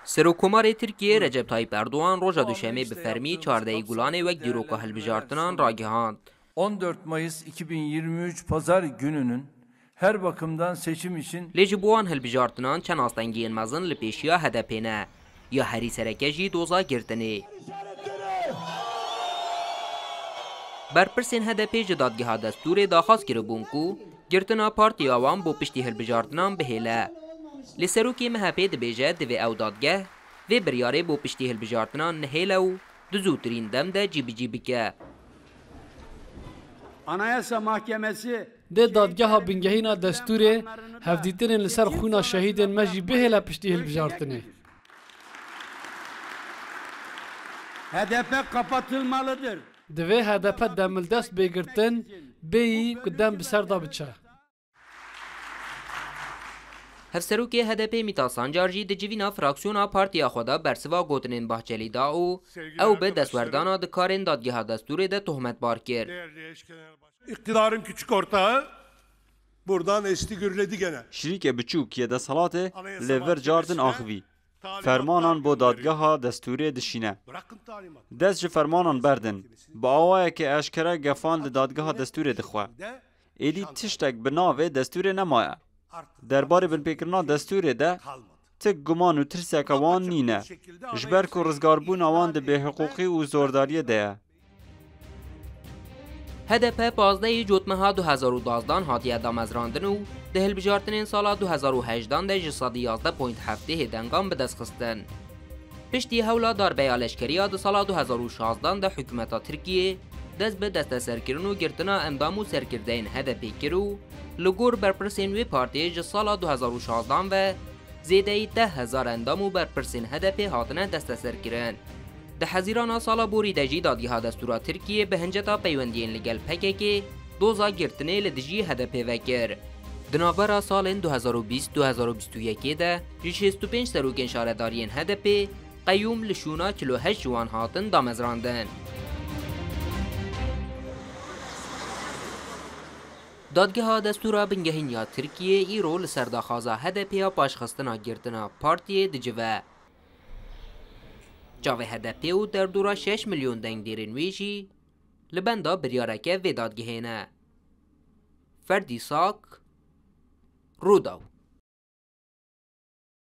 Serokkomarê Tirkiyê Recep Tayyîp Erdogan roja Duşemê bi fermî çardehî Gulanê wek dîroka hilbijartinan ragihand. On dört Mayıs iki bin yirmi üç Pazar gününün her bakımdan seçim için Lê ji bo wan hilbijartinan çend astengiyên mezin li pêşiya HDP'ê ne. Ya herî sereke jî doza girtinê. Berpirsên HDP'ê ji Dadgeha Destûrê daxwaz kiribûn ku girtina partiya wan bo piştî hilbijartinan bihêle. Lê serokê MHP'ê dibêje divê ew dadgeh vê biryarê bo piştî hilbijartinan nehêle û di zûtirîn dem de cîbicî bike. Anayasa Mahkemesi Dê dadgeha bingehîna destûrê hevdîtinên li ser xwîna şehîdên me jî bihêle piştî hilbijartinê. Hdp kapatılma lı dır. Divê hdp demildest bê girtin, bêyî ku dem bi ser de biçe. Hevserokê HDP'ê Mîta Sancar jî di civîna fraksiyona partiya xwe de bersiva gotinên Bahçelî da û ew bi destwerdana di karên Dadgeha Destûrê de tohmetbar kir. Îqtîdarên kiçik orta bordan êstî gurlê digene. Şirîke biçûk yê deselatê li vir car din axivî. Fermanan bo dadgeha destûrê dişîne. Dest ji fermanan berdin. Bi awayeke eşkere gefan li dadgeha destûrê dixwe. Êdî tiştek bi navê destûrê nemaye. Derbarê binpêkirina destûrê de ti guman û tirseke wan nîne. Ji ber ku rizgarbûna wan di bêhiqûqî û zordariyê de ye. HDP pazdehê cotmeha du hezar û dazdan hatiye damezrandin û di hilbijartinên sala du hezar û hejdan de ji sedî yazdeh point hevdêhê dengan bi dest xistin. Piştî hewla darbeya leşkeriya di sala du hezar û şazdan de hikûmeta Tirkiyê dest bi desteserkirin û girtina endam û serkirdeyên HDP'ê kir û li gor berpirsên wê partiyê ji sala du hezar û şazdan ve zêdeyî deh hezar endam û berpirsên HDP'ê hatine desteserkirin. Di hezirana sala borî de jî Dadîha Destûra Tirkiyê bi hinceta peywendiyên li gel PKK'ê doza girtinê li dijî HDP'ê vekir. Di navbera salên du hezar û bîst du hezar û bîst û yekê de ji şêst û pênc serokên şaredariyên HDP'ê qeyûm li şûna çil û heşt ji wan hatin damezrandin. Dadgeha Destûra Bingehîn ya Tirkiyê îro li ser daxwaza HDP'ê ya paşxistina girtina partiyê dicive. Çavê HDP'ê û derdora şeş milyon dengdêrên wê jî li benda biryareke vê dadgehê ne. Ferdî Sak, Rûdaw.